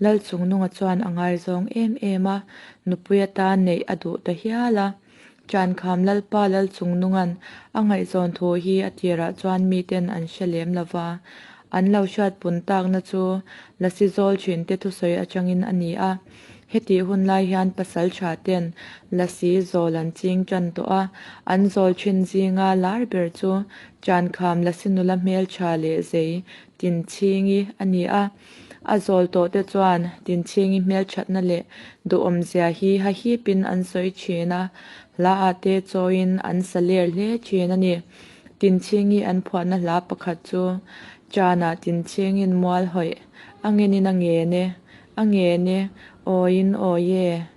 Lal Chungnunga chuan a ngaizawng em em a, nupui ata neih a duh ta hial a. Ṭankham Lalpa Lal Chungnunga'n a ngaihzawn thu hi a tirah chuan mite'n an hre lem lo va, an lo hriat pun takna chu Lasi zawl ṭhinte thusawi aṭangin a ni a. Hetih hun lai hian pasal ṭha te'n Lasi zawl an ching ṭan tawh a, an zawl ṭhin zinga lar ber chu Ṭankham Lasi nula hmelṭha leh zei tinchhingi a ni a. A zawl tawhte chuan Tinchhingi hmelthatna leh duhawmzia hi hahip in an sawi thin a, hla ah te chawiin an sa ler hle thin a ni. Tinchhingi an phuahna hla pakhat chu Chan ah Tinchingin mual hawih, A ngen in a ngen e, a ngen e, awiin awi e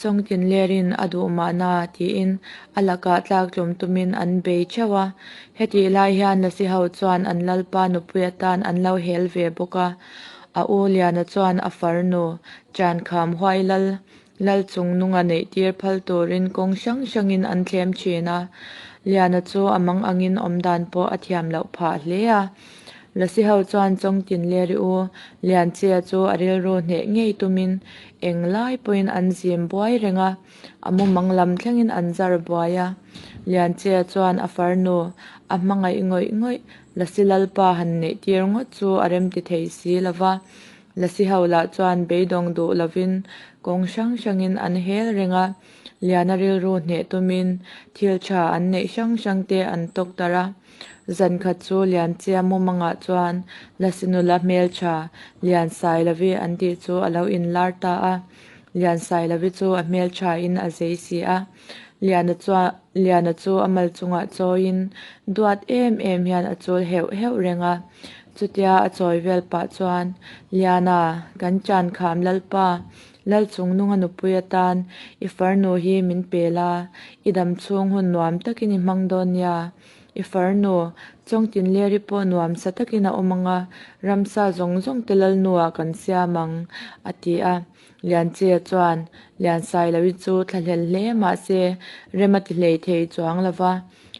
Chawngtin lerin a duh mahna tiin a lakah tlak tlawm tumin an bei theuh a. Hetih lai hian Lasiho chuan an lalpa nupui atan an lo hel ve bawk a. A u Liana chuan a far nu Ṭankham Huailal lal chung nunga neih tir phal turin kawng hrang hrangin an thlem thin a. Liana chu a mang angin awmdan pawh a thiam loh phah hle a. Lasiho chuan chawngtin ler i u, Lianchia chu a rilru hneh ngei tumin eng lai pawhin an zim buai reng a, a mu mang lam thlengin an zar buai a. Lianchia chuan a far nu a hmangaih ngawih ngawih Lasi Lalpa han neih tir ngawt chu a rem ti thei si lo va, Lasiho lah chuan beidawng duh lovin kawng hrang hrangin an hel reng a, Liana rilru hneh tumin thil tha an neih hrang hrangte an tawk darh a. Zan khat chu Lianchia mumangah chuan Lasinula hmeltha Lian Sailavi an tih chu a lo inlar ta a, Lian Sailavi chu a hmeltha in a zei si a. Liana chuan, Liana chu a mal chungah chawiin duat em em hian a chul heuh heuh reng a. Chutia a chawi vel pah chuan, Liana, kan ṭankham lalpa Lalchung nunga nupui atan i far nu hi min pel a, i dam chhung hun nuam takin i hmang dawn nia. I far nu, Chawngtin Leri pawh nuam sa takin a awm ang a, ramsa zawng zawng te Lalnu ah kan siam ang, a ti a. Lianchia chuan, Lian sai lo i chu thla hlel hle mahse rem a ti hlei thei chuang lo va.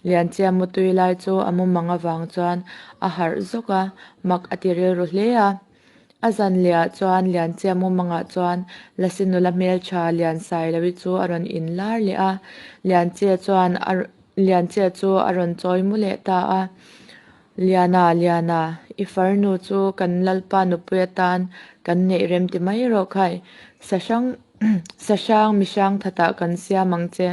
Lianchia mutui lai chu a mumang avang chuan a harh zawk a, mak a ti rilru hle a. A zan leh ah chuan Lianchiamu mangah chuan Lasi nula hmeltha Liansai lo i chu a rawn in lar leh a. Lianchia chuan a rawn Lianchia chu a rawn chawi mu leh ta a, Liana, Liana, i far nu chu kan lalpa nupui atan kan neih rem ti mai erawh khai. Sa hrang sa hrang mi hrang that ah kan siam ang che.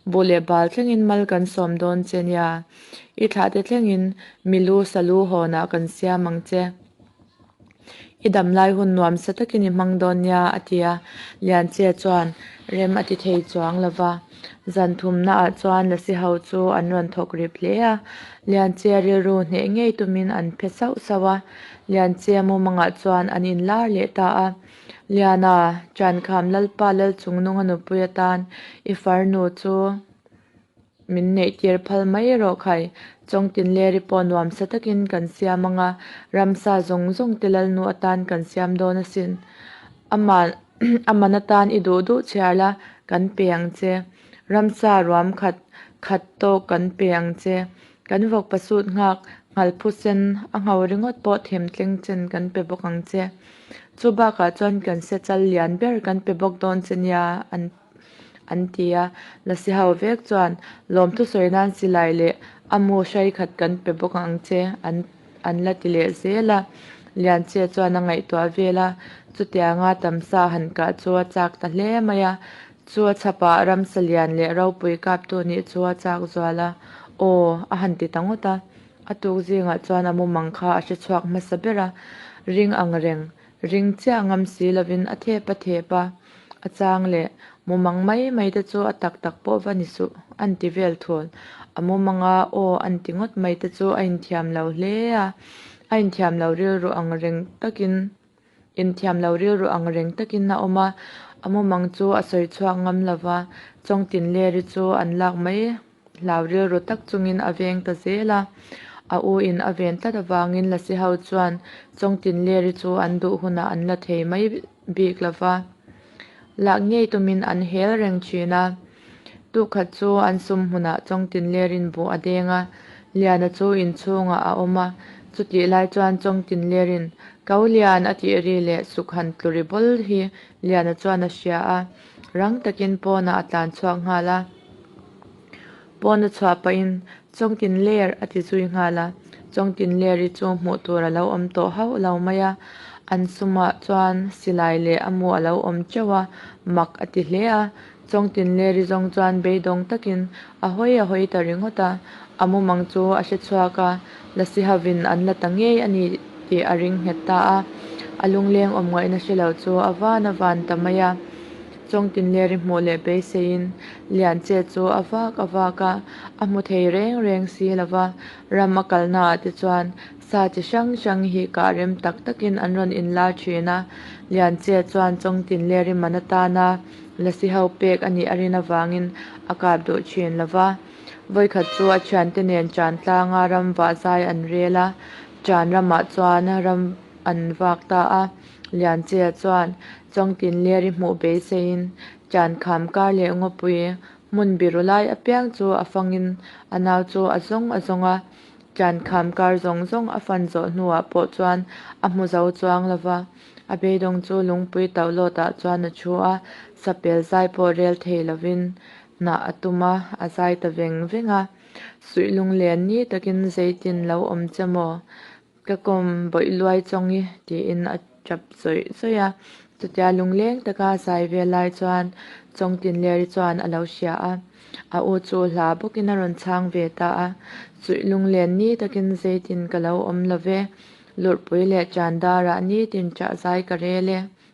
Bu leh bal thleng in mal kan sawm dawn che nia. I thlah te thleng in mi lu sa lu hawn ah kan siam ang che. I damlai hun nuam sa takin i hmang dawn nia, a ti a. Lianchia chuan rem a ti thei chuang lo va. Zan thumnaah chuan Lasi ho chu an rawn thawk rip hle a. Lianchia rilru hneh ngei tumin an phe sauh sauh a. Lianchia mumangah chuan an inlar leh ta a. Liana, Ṭankham Lalpa Lalchungnunga nupui atan i farnu chu Min neih tir phal mai erawh khai, chawng tinleri pawh nuam sa takin kan siam anga, ramsa zawng zawng te Lalnu atan kan siam dawn asin. Ama aman atan i duh duh chhiar la kan pe ang che. Ramsa ruam khat khat tawk kan pe ang che. Kan vawkpasut nghak nghalphu sen a ngho ringawt pawh them tleng chen kan pe bawk ang che. Chubakah chuan kan se chal lian ber kan pe bawk dawn che nia an ti. an ti a. Nasihau vek chuan, Lawm thusawi nan si lai leh, a mu hrai khat kan pe bawk ang che, an an la ti leh zel a. Lianchhia chuan a ngaihtuah vel a, chutianga tam sa han kah chu a chak ta hle mai a. Chu a chhapa Ramsalian leh ropui kaptu nih chu a chak zual a, Aw, a han ti ta ngawt a. A tuk zingah chuan a mumang kha a hre chhuak hmasa ber a, ring ang reng. Ring chiah ngam si lovin a thep a thep a, a chang leh mumang mai mai te chu a tak tak pawh va ni suh a'n ti vel thawn. A mumanga aw a'n ti ngawt mai te chu a inthiam lo hle a, a inthiam lo rilru ang reng takin inthiam lo rilru ang reng takin a awm a, a mumang chu a sawi chhuak ngam lova chawngtin leri chu an lak mai. hlau rilru tak chungin a veng ta zel a, a u in a ven tlat avangin Lasi ho chuan Chawng Tinleri chu an duh hunah an la thei mai bik lo va, lak ngei tumin an hel reng thin a. Tukhat chu an sum hunah Chawng Tinlerin buh a deng a, Liana chu in chhungah a awm a, chutih lai chuan Chawng Tinlerin, Ko Lian a tih ri leh suk han tlu ri bawl hi Liana chuan a hria a, rang takin pawnah a tlan chhuak nghal a. Pawn a chhuah pahin Chawngtin ler a ti zui nghal a, Chawngtin ler hi chu hmuh tur a lo awm tawh hauh lo mai a, an sumah chuan silai leh a mu a lo awm teuh a, mak a ti hle a, Chawngtin ler hi zawng chuan beidawng takin a hawi a hawi ta ringawt a, a mumang chu a hre chhuak a. Lasihavin an la ta ngei a ni tih a ring nghet ta a, a lungleng awmngaihna hre lo chu a van a van ta mai a. Chawngtin leh ri hmuh leh beiseiin Lianche chu a vak a vak a, a hmu thei reng reng si lo va, ram a kal naah te chuan sa chi hrang hrang hi kah rem tak takin an rawn in lar thin a. Lianche chuan Chawngtin leh ri man atana Lasiho pek a nih a rin avangin a kap duh thin lo va. Vawikhat chu a thiante nen Ṭan tlanga ram vah zai an rel a, Ṭan ramah chuan ram an vak ta a. Lianchea chuan Chawngtin ler i hmuh beiseiin Ṭan kham kar leh ngawpui hmun biru lai apiang chu a fangin a nau chu a zawng a zawng a. Ṭan kham kar zawng zawng a fan zawh hnuah pawh chuan a hmu zo chuang lo va, a beidawng chu lungpui tauh lawtah chuan a ṭhu a, sapel zai pawh rel thei lovin Hnah a tum a, a zai ta veng veng a, suih lung len ni takin zeitin lo awm che maw? Ka kawm bawih luai chawng i tiin a tap zawih zawih a, chutia lungleng taka zai vel lai chuan Chawngtin Leri chuan a lo hria a, a u chu hla bawkin a rawn chhang ve ta a, suih lung len ni takin zeitin ka lo awm lo ve, lurhpui leh ṭan darah nitin ṭahzai ka rel e,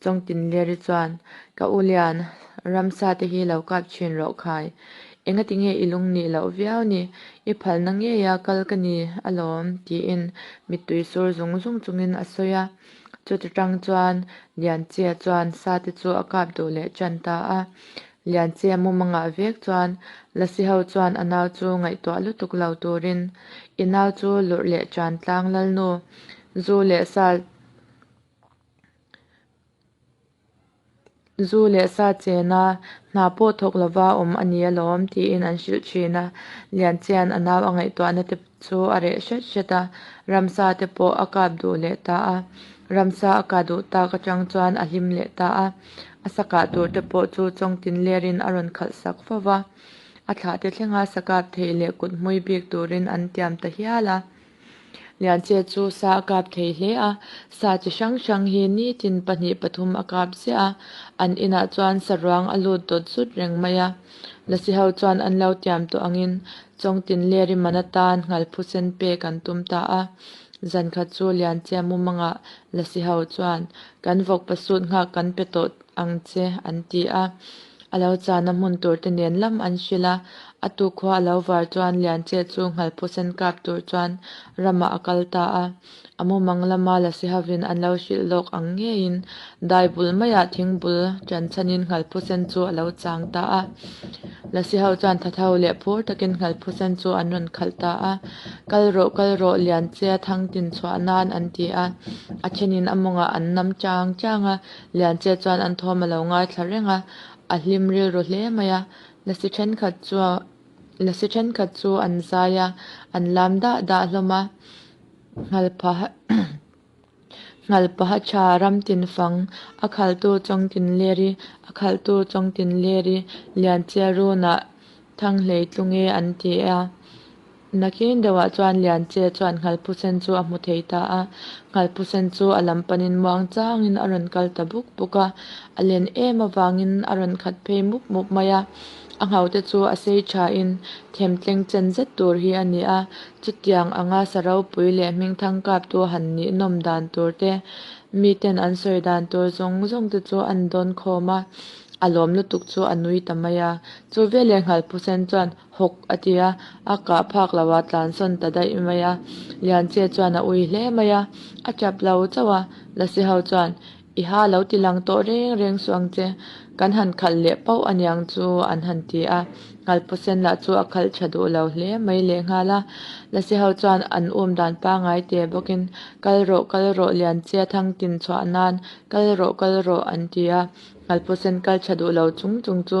Chawngtin Leri chuan, Ka u lian, ramsa te hi lo kap chin rawh khai. Engati nge i lung nih loh viau ni? I phalna ngei a kal ka ni alawm, tiin mittui sur zung zung chungin a sawi a. Chuti tang chuan Lianchia chuan sa te chu a kap duh leh chan ta a. Lianchia mum a ngah vek chuan Lasi ho chuan a nau chu ngaihtuah lutuk lo turin, I nau chu lurh leh chan tlang lal nu, zu leh sa, Zu leh sa chena hna pawh thawk lova awm a ni alawm tiin an hrilh thin a. Lianchian a nau a ngaihtuahna te chu a reh hret hret a, ramsa te pawh a kap duh leh ta a. Ramsa a ka duh tak atang chuan a hlim leh ta a. A sa kah tur te pawh chu chawng tin ler in a rawn khalh sak fo va. A thlah te thlenga sa kap theih leh kuthmui bik turin an tiam ta hial a. Lianche chu sa a kap thei hle a, sa chi hrang hrang hi nitin pahnih pathum a kap ziah a, an inah chuan sa ruang a lut dawt zut reng mai a. Lasi ho chuan an lo tiam tawh angin chawng tin leh riman atan nghal phu sen pek an tum ta a. Zan kha chu Lianche mumangah Lasi ho chuan, Kan vawk pasut nghak kan pe tawh ang che an ti a, a lo chana hmun tur te nen lam an hrilh a, a tukhua a lo var chuan Lianche chu Nghalphusen kap tur chuan ramah a kal ta a, a mumang lama la si hovin an lo hrilh lawk ang ngeiin dai bul maiah thing bul ṭan chhanin Nghalphusen chu a lo chang ta a, la si ho chuan thatho leh phur takin Nghalphusen chu an rawn khalh ta a, kal rawh kal rawh Lianchea thangtin chhuah nan an ti a, a ṭhenin a mawngah an nam ṭang ṭang a. Lianchia chuan an thawm a lo ngai thla reng a, a hlim rilru hle mai a, la si thenkhat chu la si thenkhat chu an zai a, an lam dah dah hlawm a, nghal paha nghal paha tha ram tin fang, a khaltu chawng tin ler i, a khaltu chawng tin ler i, Lianchia run ah thang hleitlung e an ti a. Nakin deuhah chuan Lianchia chuan Nghalpusen chu a hmu thei ta a, Nghalpusen chu a lam panin muang changin a rawn kal ta buk buk a, a len em avangin a rawn khat phei mup mup mai a, a nghaute chu a sei thain them tleng chen zet tur hi a ni a, chutiang anga Saropui leh hming thangkaptu han nih nawm dan tur te, miten an sawi dan tur zawng zawng te chu an dawn khawm a, a lawm lutuk chu a nui ta mai a, chu velin Nghalpusen chuan. Hawk a ti a, a kah phak lo a tlan sawn ta daih mai a, Lianchia chuan a ui hle mai a, a tap lo chauh a, Lasi ho chuan, I ha lo ti lang tawh reng reng suh ang che, kan han khalh leh pauh a niang chu an han ti a, Ngalpasen lah chu a khalh tha duh lo hle mai lehnghal a, Lasi ho chuan an um dan pangai te bawkin, Kal rawh, kal rawh, Lianchia thang tin chhuah nan, kal rawh, kal rawh an ti a, Ngalpasen kal tha duh lo chung chung chu.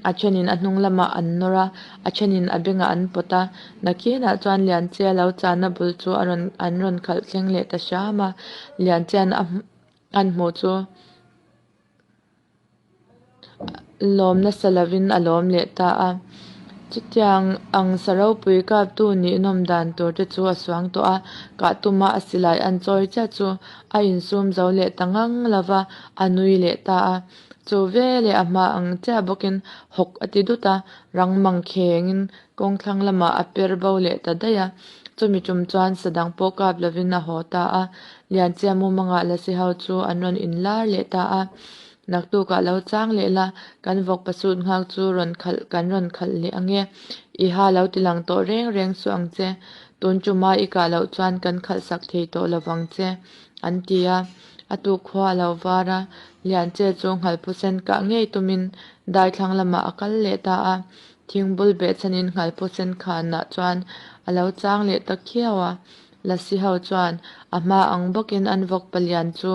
A thenin a hnung lamah an nawr a, a thenin a bengah an pawt a. Nakianah chuan Lianchia lo chahna bul chu a rawn an rawn khalh thleng leh ta hram a. Lianchian a an hmuh chu lawm nasa lovin a lawm leh ta a. Chutiang ang sa ropui kaptu nih nawm dan tur te chu a suang tawh a. Kah tuma a silai an chawi chiah chu a insum zo leh ta ngang lova a nui leh ta a. Chu ve leh a hma ang chiah bawkin hawk a ti dut a, rang mang khengin kawng thlang lamah a per bo leh ta daih a. Chumi tum chuan sadang pawh kap lovin a haw ta a, Lianchia mumanga lasi ho chu an rawn inlar leh ta a, naktuk ah lo chang leh la, kan vawk pasut nghak chu rawn khalh kan rawn khalh leh ange, i ha lo ti lang tawh reng reng suh ang che, tun tumah i kah loh chuan kan khalh sak thei tawh lo vang che. an ti a, a tukhua a lo var a, Lianche chu nghalphusen kah ngei tumin daithlang lamah a kal leh ta a, thingbul beh chhanin nghalphusen khanah chuan a lo chang leh ta khiau a, Lasi ho chuan a hma ang bawkin an vawk palian chu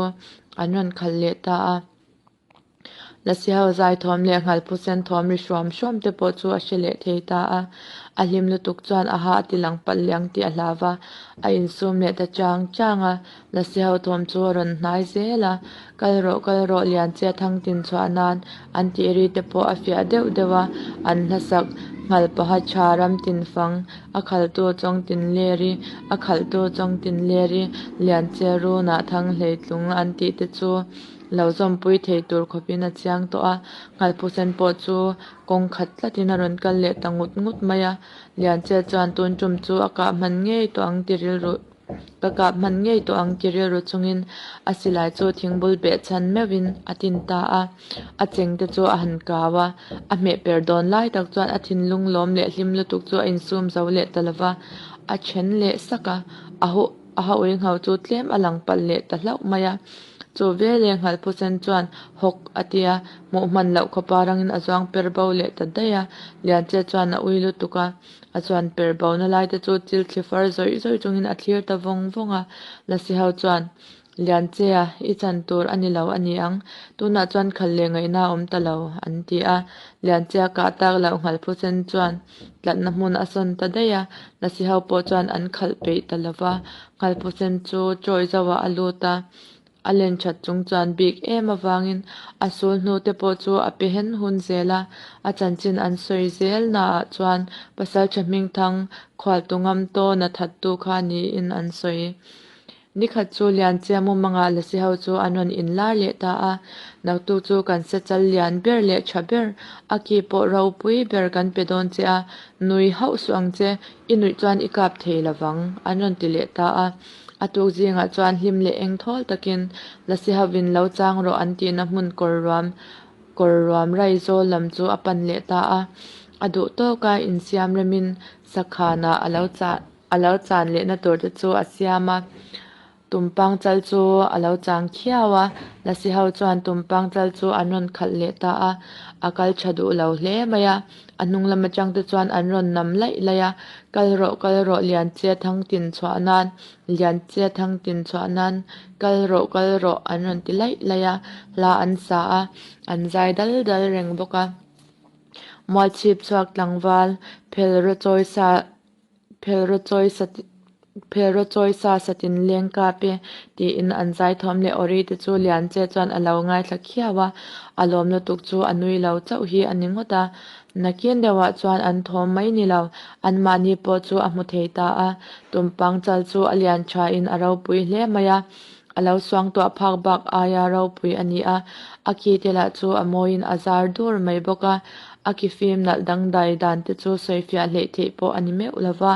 an rawn khal leh ta a. Lasiho zaithawm leh nghalphu senthawm ri hruam hruam te pawh chu a hre leh thei ta a, a hlim lutuk chuan aha a tilang palh leh ang tih a hlav a, a insum leh ta chang chang a, Lasiho thawm chu a rawn hnai zel a, kal rawh kal rawh Lianchia thang tin chhuah nan an tih ri te pawh a fiah deuh deuh a, an hlasak Nghalpaha tha ram tin fang, a khaltu chawng tin ler i, a khaltu chawng tin ler i, Lianchia runa thang hleitlung an tih te chu Lo zawmpui theih tur khawpin a chiang tawh a, Nghalphu sen pawh chu kawng khat tlatin a rawn kal leh ta ngut ngut mai a. Lianchel chuan tun tum chu a kah hman ngei tawh ang tirilru ka kah hman ngei tawh ang tirilru chungin a silai chu thingbul beh chhan meuhin a tin ta a, a chengte chu a han kau a, a hmehper dawn lai tak chuan a thinlung lawm leh hlim lutuk chu a insum zo leh ta lova, a then leh sak a, a haw. A hawi nghal chu tlem a lang palh leh ta hlauh mai a. Chu ve leh nghal phu sen chuan hawk a ti a, hmuh hman loh khawpa rangin a zuang per bo leh ta daih a. Lianchia chuan a ui lutuk a, a chuan per bo na lai te chu thil thli far zawih zawih chungin a thlir ta vawng vawng a. Nasiho chuan, Lianchia, i chan tur a ni lo a ni ang, tunah chuan khal leh ngaihna a awm ta lo, an ti a. Lianchia kah tak loh nghal phu sen chuan. tlatna hmun a sawn ta daih a, Lasihau pawh chuan an khalh peih ta lo va, Ngalpusen chu chawi zauhah a lut a, a len that chung chuan bik em avangin a sul hnu te pawh chu a pe hen hun zel a, a chanchin an sawi zel na ah chuan Pasalṭha hmingthang khualtu ngam tawn a that tu kha niin an sawi. Ni khat chu Lianchia mumanga lasi ho chu an rawn inlar leh ta a, naktuk chu kan se chal lian ber leh tha ber, a ki pawh ropui ber kan pe dawn che a, nui hauh suh ang che, i nuih chuan i kap thei lo vang an rawn ti leh ta a, a tuk zingah chuan hlim leh eng thawl takin lasi hovin lo chang rawh an tihna hmun kawr ruam kawr ruam rai zawl lam chu a pan leh ta a, a duh tawk a insiam remin sakhanah a lo chah A lo chan lehna tur te chu a siam a, tum pangchal chu a lo chang khiau a, Lasiho chuan tum pangchal chu an rawn khalh leh ta a, a kal tha duh lo hle mai a, a hnung lam atang te chuan an rawn nam laih laih a, kal rawh kal rawh Lianchhia thang tin chhuah nan, Lianchhia thang tin chhuah nan, kal rawh kal rawh an rawn ti laih laih a, hla an sa a, an zai dal dal reng bawk a, Mualchhip chhuak tlangval phel rawh chawisa. Phelraw chawi sa ti Phelraw chawi sa sa tin leng kap e, tiin an zaithawm leh awrei te chu lian che chuan a lo ngaithla khiau a, a lawm lutuk chu a nui lo chauh hi a ni ngawt a, nakin deuhah chuan an thawm mai ni lo, anmahni pawh chu a hmu thei ta a, tumpang chal chu a lian tha in a ropui hle mai a. A lo suang tawh a phak bak aia ropui a ni a, a ki te lah chu a mawiin a zar dur mai bawk a, a ki fim nalh dangdai dan te chu sawifiah hleih theih pawh a ni meuh lo va,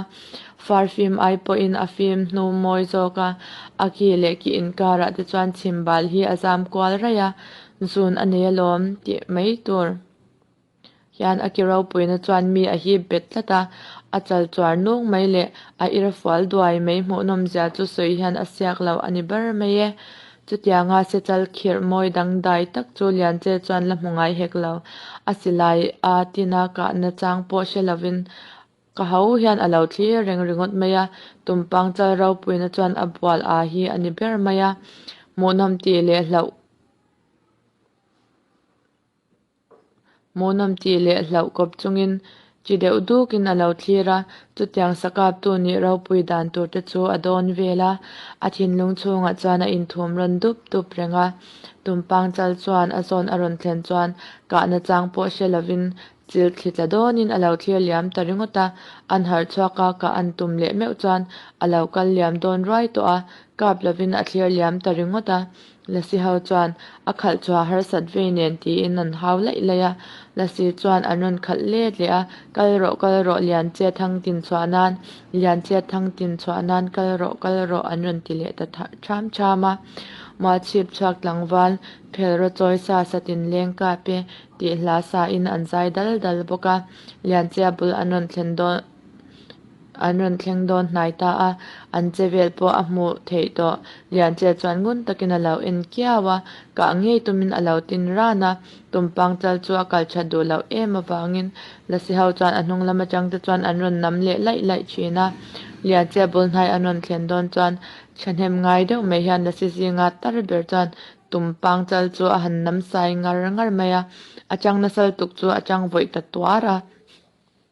far fim ai pawhin a fim hnu mawi zawk a, a ki leh ki inkarah te chuan chhimbal hi a zam kual raih a, zun a nei alawm tih mai tur. hian a kiro puina chuan mi a hip bet tlat a, a chal chuar nung mai leh a ir fual duai mai hmuhnawm zia chu sawi hian a siak loh a ni ber mai e. Chutianga sechal khirh mawi dangdai tak chu Lianche chuan la hmu ngai hek lo. A silai a tina kahna chang pawh hre lovin ka ho hian a lo thlir reng ringawt mai a, tumpang chal ropuina chuan a bual a hi a ni ber mai a, hmuhnawm tih leh hlauh. Mawhnawm tih leh hlauh kawp chungin chi deuh dukin a lo thlir a, chutiang sakaptu nih ropui dan turte chu a dawn vel a, a thinlung chhungah chuan a inthum rawn dup dup reng a. Tumpang chal chuan a zawn a rawn thlen chuan kahna chang pawh hre lovin chil thli tla dawnin a lo thlir liam ta ringawt a, an harh chhuak a, ka an tum leh meuh chuan a lo kal liam dawn ruai tawh a, kap lovin a thlir liam ta ringawt a. Lassie ho chuan a khalh chhuah harsat vei nen tiin an hau laih laih a, Lassie chuan an rawn khalh let leh a, kal rawh kal rawh Lianchhia thang tin chhuah nan, Lianchhia thang tin chhuah nan kal rawh kal rawh an rawn ti leh ta tham tham a, Mah chhip chhuak tlangval phel rawh chawi sa sa tin leng kap e tih hla sa in an zai dal dal bawk a, Lianchhia bul an rawn thlen dawn an rawn thleng dawn hnai ta a, an che vel pawh a hmuh theih tawh. Lianchel chuan ngun takin a lo en kiau a, kah ngei tumin a lo tin ran a, tumpang chal chu a kal that duh loh em avangin Lasi ho chuan a hnung lam atang te chuan an rawn nam leh laih laih thin a. Lianchel bul hnai an rawn thlen dawn chuan thahnem ngai deuh mai hian Lasi zinga tar ber chuan tumpang chal chu a han namsai ngar ngar mai a, a chang nasal tuk chu a chang vawih ta tuar a.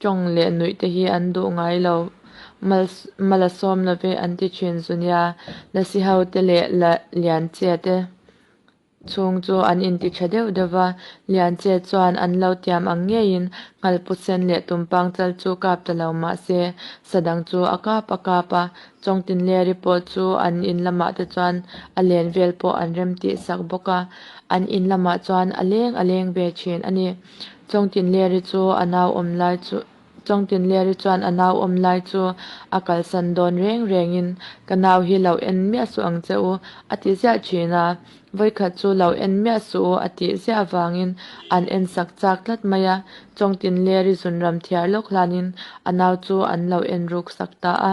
Tawng leh nuih te hi an duh ngai lo, mal mal a sawm love an ti thin zu nia, lasi ho te leh la Lianchia te chhung chu an inti tha deuh deuh va, Lianchia chuan an lo tiam ang ngeiin Nghalpu sen leh Tumpang chal chu kap ta lo mahse Sadang chu a kap a kap a, Chawngtin leh Ripawt chu an in lamah te chuan a len vel pawh an rem tihsak bawk a, an in lamah chuan a leng a leng ve thin a ni. Chawngtinliari chu a nau awm lai chu Chawngtinliari chuan a nau awm lai chu a kalsan dawn reng rengin, Ka nau hi lo en miah suh ang che u, a ti ziah thin a. Vawikhat chu lo en miah suh u a tih ziah avangin an en sak chak tlat mai a. Chawngtinliari zunram thiar lawk hlanin a nau chu an lo en ruk sak ta a.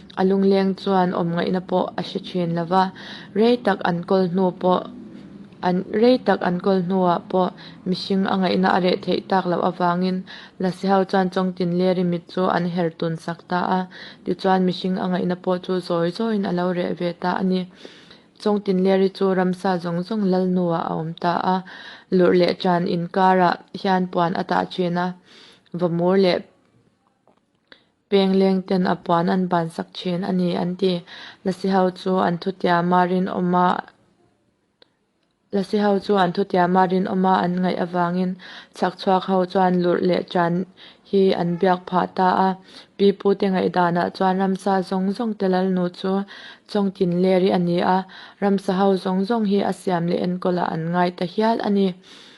A lungleng chuan awmngaihna pawh a hre thin lo va, rei tak an kawl hnu pawh an rei tak an kawl hnuah pawh mihring a ngaihna a reh theih tak loh avangin Laseho chuan chawngtin leri mit chu an herh tun sak ta a, tichuan mihring a ngaihna pawh chu zawi zawin a lo reh ve ta a ni. Chawngtin leri chu ramsa zawng zawng lal hnuah a awm ta a, lurh leh chan inkarah hian puan a tah thin a, vawmur leh Peng leng ten a puan an ban sak thin a ni an ti. Lasi ho chu an thu tia ma rinawm a Lasi ho chu an thu tia ma rinawm a an ngaih avangin chhak chhuak ho chuan lurh leh ṭan hi an biak phah ta a. Pi Pu te ngaih danah chuan ramsa zawng zawng te Lalnu chu chawng tin ler i a ni a. Ramsa ho zawng zawng hi a siam leh enkawl ah an ngai ta hial a ni.